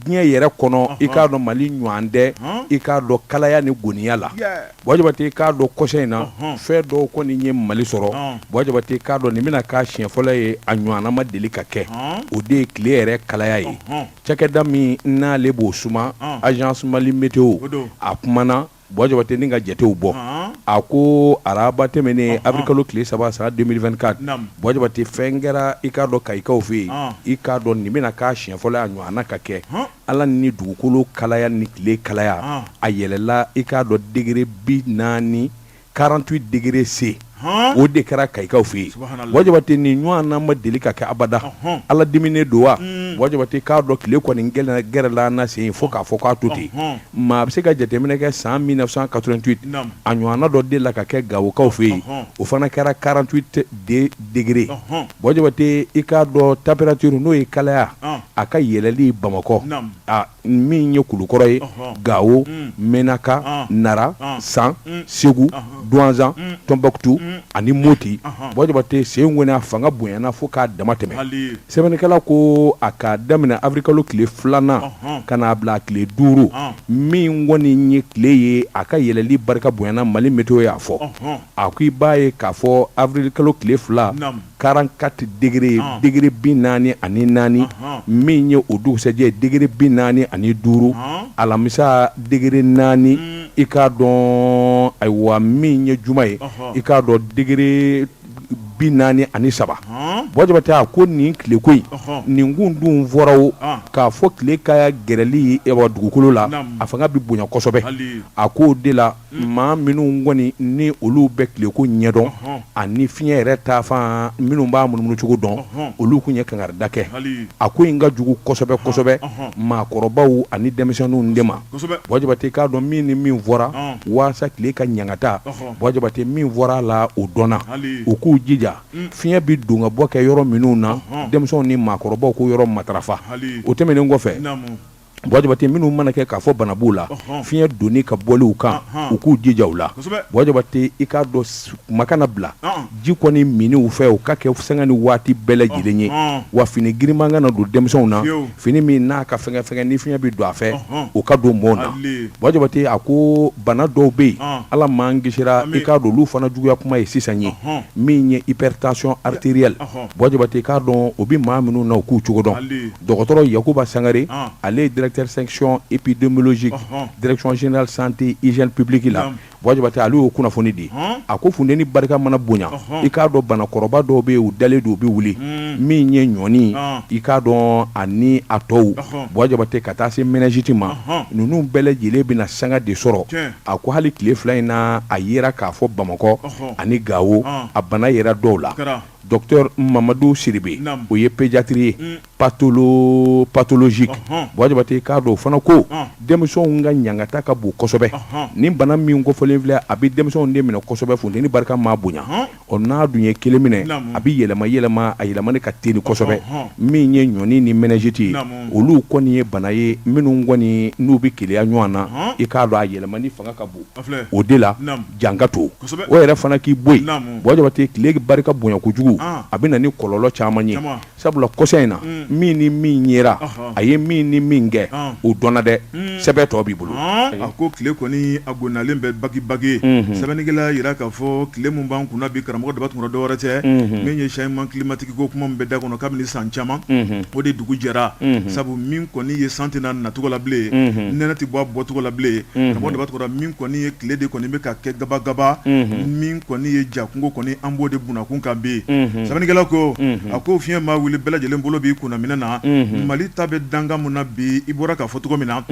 diɲɛ yɛrɛ kɔnɔ i k'a dɔn mali ɲɔgɔn tɛ i k'a dɔn kalaya ni goniya la bon jabate i k'a dɔn kɔsa in na fɛn dɔw kɔni ye mali sɔrɔ bon jabate i k'a dɔn nin bɛna k'a siɲɛ fɔlɔ ye a ɲɔgɔnna ma deli ka kɛ o de ye tile yɛrɛ kalaya ye cakɛda min n'ale b'o suma agence mali météo a kumana Bon jabate ni ka jatew bɔ a ko araba tɛmɛnen avril kalo tile saba san deux mille vingt-quatre bon jabate fɛn kɛra i k'a dɔn kayikaw fɛ yen i k'a dɔn nin bɛna k'a siɲɛ fɔlɔ a ɲɔgɔnna ka kɛ ala ni dugukolo kalaya ni tile kalaya a yɛlɛla i k'a dɔn degré bi naani quarante-huit degré C o de kɛra kayikaw fɛ yen bon jabate nin ɲɔgɔnna ma deli ka kɛ abada ala diminen don wa bon jabate k'a dɔn tile kɔni gɛrɛla an na sen in fo k'a fɔ k'a to ten maa bɛ se ka jateminɛ kɛ san mille neuf cent quatre-vingt-huit a ɲɔgɔnna dɔ delila ka kɛ gawokaw fɛ yen o fana kɛra quarante-huit degré bon jabate i k'a dɔn température n'o ye kalaya a ka yɛlɛli bamakɔ min ye kulukɔrɔ ye gawo menaka nara san segu duwanzan tɔnbukutu ani moti bon jabate sen in kɔni a fanga bonyana fo k'a dama tɛmɛ sɛbɛnnikɛla ko a ka daminɛ avril kalo tile filanan ka na a bila a tile duuru min kɔni ye tile ye a ka yɛlɛli barika bonyana mali météo y'a fɔ a ko i b'a ye k'a fɔ avril kalo tile fila quarante-quatre degré degré bi naani ani naani min ye o dugusɛjɛ degré bi naani ani duuru alamisa degré naani i k'a dɔn ayiwa min ye juma ye i k'a dɔn degré bi naani ani saba bon jabate a ko nin tileko in nin kun dun fɔra o k'a fɔ tile ka gɛrɛli dugukolo la a fanga bɛ bonya kosɛbɛ a k'o de la maa minnu kɔni ni olu bɛ tileko ɲɛdɔn ani fiɲɛ yɛrɛ taafan minnu b'a munumunucogo dɔn olu tun ye kangarida kɛ a ko in ka jugu kosɛbɛ kosɛbɛ maakɔrɔbaw ani denmisɛnninw de ma bon jabate k'a dɔn min ni min fɔra walasa tile ka ɲangata bon jabate min fɔra a la o don na u k'u jija fiɲɛ bɛ don ka bɔ kɛ yɔrɔ minnu na denmisɛnw ni maakɔrɔbaw k'o yɔrɔ matarafa o tɛmɛnen kɔfɛ Bon jabate minnu mana kɛ k'a fɔ bana b'u la fiɲɛ donni ka bɔliw kan u k'u jija u la bon jabate i k'a dɔn kuma kana bila ji kɔni minni u fɛ o ka kɛ sanga ni waati bɛɛ lajɛlen ye wa fini giriman kana don denmisɛnw na fini min n'a ka fɛgɛnfɛgɛn ni fiɲɛ bɛ don a fɛ o ka don mɔɔ na bon jabate a ko bana dɔw bɛ yen ala m'an kisira i k'a dɔn olu fana juguya kuma ye sisan ye min ye hypertension artérielle bon jabate i k'a dɔn o bɛ maa minnu na u k'u cogo dɔn Dɔgɔtɔrɔ yakuba sangare ale ye directeur section épidémiologique direction générale santé hygiène publique la buwa jabate ale y'o kunnafoni di a ko funteni barika mana bonya i k'a dɔn banakɔrɔba dɔw bɛ yen u dalen don u bɛ wuli min ye ɲɔni i k'a dɔn ani a tɔw buwa jabate ka taa se méningite ma ninnu bɛɛ lajɛlen bɛna sanga de sɔrɔ a ko hali tile fila in na a yera k'a fɔ bamakɔ ani gawo a bana yera dɔw la Docteur Mamadu Sidibe naamu o ye pédiatre ye unn patholo pathologique ɔnhɔn Buwa Jabate i k'a dɔn o fana ko ɔn denmisɛnw ka ɲangata ka bon kosɛbɛ ɔnhɔn nin bana min kofɔlen filɛ a bɛ denmisɛnw de minɛ kosɛbɛ funteni barika maa bonya ɔnhɔn ɔ n'a dun ye kelen minɛ naamu a bɛ yɛlɛma yɛlɛma a yɛlɛmani ka teli kosɛbɛ ɔnhɔn min ye ɲɔni ni méningite ye naamu olu kɔni ye bana ye minnu kɔni n'u bɛ keleya ɲɔgɔn na ɔnhɔn i k'a dɔn a yɛlɛmani fanga ka bon o de la jan ka to o yɛrɛ fana k'i bɔ yen buwa jabate tile barika bonya kojugu a bɛ na ni kɔlɔlɔ caman ye sabula kɔsa in na min ni min yera a ye min ni min kɛ o dɔnna dɛ sɛbɛn tɔ b'i bolo a ko tile kɔni a gonnalen bɛ bagibagi sɛbɛnnikɛla jira k'a fɔ tile min b'an kunna bi karamɔgɔ daba tunkara dɔ wɛrɛ tɛ min ye changement climatique i ko kuma min bɛ da kɔnɔ kabini san caman o de dugu jɛra sabu min kɔni ye san tɛ na nacogo la bilen nɛnɛ tɛ bɔ a bɔcogo la bilen karamɔgɔ daba tunkara min kɔni ye tile de kɔni bɛ ka kɛ gabagaba min kɔni ye ja kungo kɔni an b'o de bunakun kan bi sɛbɛnnikɛla ko a ko fiɲɛ maa wuli bɛɛ lajɛlen bolo b'i kunna minɛn na mali ta bɛ danga mun na bi i bɔra k'a fɔ cogo min na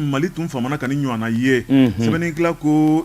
mali tun famana ka nin ɲɔgɔnna ye sɛbɛn ko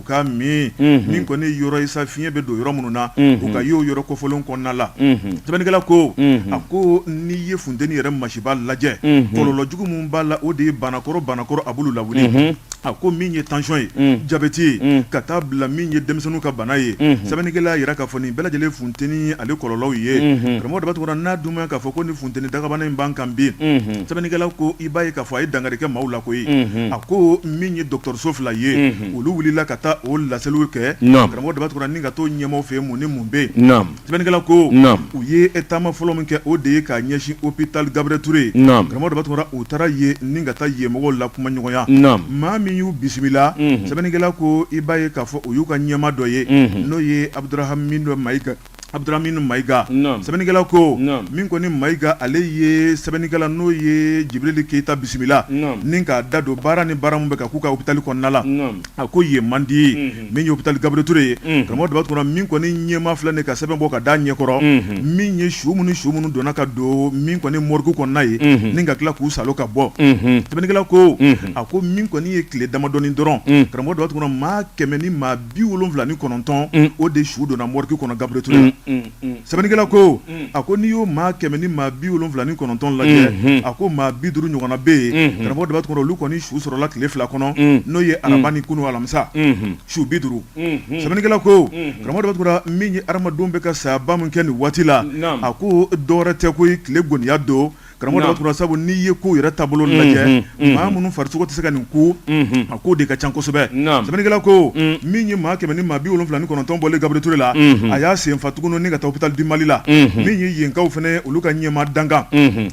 u ka min min kɔni yɔrɔ ye sa fiɲɛ bɛ don yɔrɔ minnu na u ka y'o yɔrɔ kofɔlen kɔnɔna la sɛbɛnnikɛla ko a ko n'i ye funteni yɛrɛ masiba lajɛ kɔlɔlɔ jugu min b'a la o de ye banakɔrɔ banakɔrɔ a b'olu lawuli a ko min ye tansiyɔn ye jabeti ye ka taa bila min ye denmisɛnninw ka bana ye sɛbɛnnikɛla yira k'a fɔ nin bɛɛ lajɛlen funteni ale kɔlɔlɔw ye karamɔgɔ daba tunkara n'a dun k'a fɔ ko ni funteni dagabana in b'an kan bi sɛbɛnnikɛla ko i b'a ye k'a fɔ a ye dankari kɛ maaw la koyi a ko min ye dɔgɔtɔrɔso fila ye olu wulila ka taa o laseliw kɛ karamɔgɔ daba tunkara ni ka taa o ɲɛmaa fɛ mun ni mun bɛ yen sɛbɛnnikɛla ko u ye taama fɔlɔ min kɛ o de ye k'a ɲɛsin hôpital gabriel touré karamɔgɔ daba tunkara u taara yen ni ka taa yen mɔgɔw lakumaɲɔgɔnya maa min y'u bisimila sɛbɛnnikɛla ko i b'a ye k'a fɔ u y'u ka ɲɛmaa dɔ ye n'o ye abuduramani mayiga Abuduramani mayiga sɛbɛnnikɛla ko min kɔni mayiga ale ye sɛbɛnnikɛla n'o ye jibirili keyita bisimila ni k'a da don baara ni baara min bɛ ka k'u ka hôpital kɔnɔna la a ko yen man di ye min ye hôpital gabriel touré ye karamɔgɔ daba tunkara min kɔni ɲɛmaa filɛ nin ka sɛbɛn bɔ ka da ɲɛkɔrɔ min ye su minnu su minnu donna ka don min kɔni morgue kɔnɔna ye ni ka tila k'u sali ka bɔ sɛbɛnnikɛla ko a ko min kɔni ye tile damadɔ ye dɔrɔn karamɔgɔ daba tunkara maa kɛmɛ ni maa bi wolonfila ni kɔnɔntɔn mm. o de su donna morgue kɔnɔ Gabriel Touré mm, mm, sɛbɛnnikɛla ko a ko n'i y'o maa kɛmɛ ni maa bi wolonfila ni kɔnɔntɔn lajɛ mm-hmm. a ko maa bi duuru ɲɔgɔnna bɛ yen mm-hmm. karamɔgɔ Daba Tunkara olu kɔni su sɔrɔla tile fila kɔnɔ n'o ye araba ni kunu alamisa mm-hmm. su bi duuru sɛbɛnnikɛla ko karamɔgɔ Daba Tunkara min ye adamadenw bɛ ka sayaba min kɛ nin waati la a ko dɔwɛrɛ tɛ koyi tile goniya don Karamɔgɔ Daba Tunkara sabu n'i ye ko yɛrɛ taabolo lajɛ maa minnu farisogo tɛ se ka nin kun a ko de ka ca kosɛbɛ sɛbɛnnikɛla ko min ye maa kɛmɛ ni maa bi wolonfila ni kɔnɔntɔn bɔlen Gabriel Touré la a y'a sen fa tuguni ka taa hôpital du Mali la min ye yenkaw fɛnɛ olu ka ɲɛmaa dankan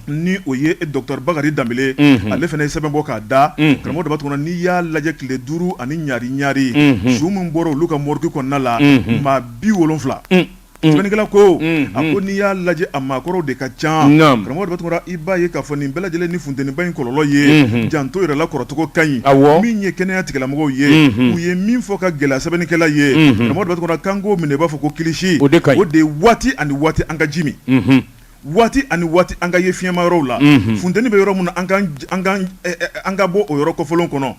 ni o ye docteur Bakari Danbele ale fɛnɛ ye sɛbɛn bɔ k'a da karamɔgɔ Daba Tunkara n'i y'a lajɛ tile duuru ani ɲari ɲare su min bɔra olu ka morgue kɔnɔna la maa bi wolonfila Sɛbɛnnikɛla ko a ko n'i y'a lajɛ a maakɔrɔw de ka ca karamɔgɔ Daba Tunkara i b'a ye k'a fɔ nin bɛɛ lajɛlen ni funteniba in kɔlɔlɔ ye janto yɛrɛ la kɔrɔcogo ka ɲi min ye kɛnɛya tigilamɔgɔw ye u ye min fɔ k'a gɛlɛya sɛbɛnnikɛla ye karamɔgɔ Daba Tunkara k'an k'o minɛ i b'a fɔ ko kilisi o de waati ani waati an ka ji min waati ani waati an ka ye fiɲɛma yɔrɔw la funteni bɛ yɔrɔ min na an ka bɔ o yɔrɔ kofɔlen kɔnɔ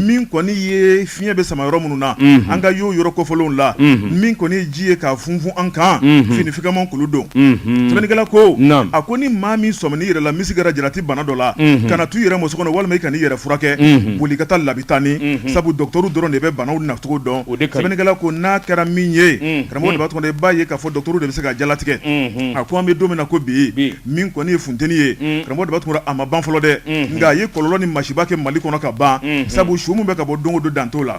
min kɔni ye fiɲɛ bɛ sama yɔrɔ minnu na an ka y'o yɔrɔ kofɔlenw la min kɔni ye ji ye k'a funfun an kan fini fɛgɛman k'olu don sɛbɛnnikɛla ko a ko ni maa min sɔmina i yɛrɛ la n'i sigara jarati bana dɔ la kana to i yɛrɛ ma so kɔnɔ walima i kana i yɛrɛ furakɛ boli ka taa labitani sabu dɔgɔtɔrɔw dɔrɔn de bɛ banaw nacogo dɔn sɛbɛnnikɛla ko n'a kɛra min ye Karamɔgɔ Daba Tunkara i b'a ye k'a fɔ dɔgɔtɔrɔw de bɛ se ka jalatigɛ a ko an bɛ don min na ko bi min kɔni ye funteni ye karamɔgɔ Daba Tunkara a ma ban fɔlɔ dɛ nka a ye kɔlɔlɔ ni masiba kɛ Mali kɔnɔ ka ban sabu su min bɛ ka bɔ don o don dan t'o la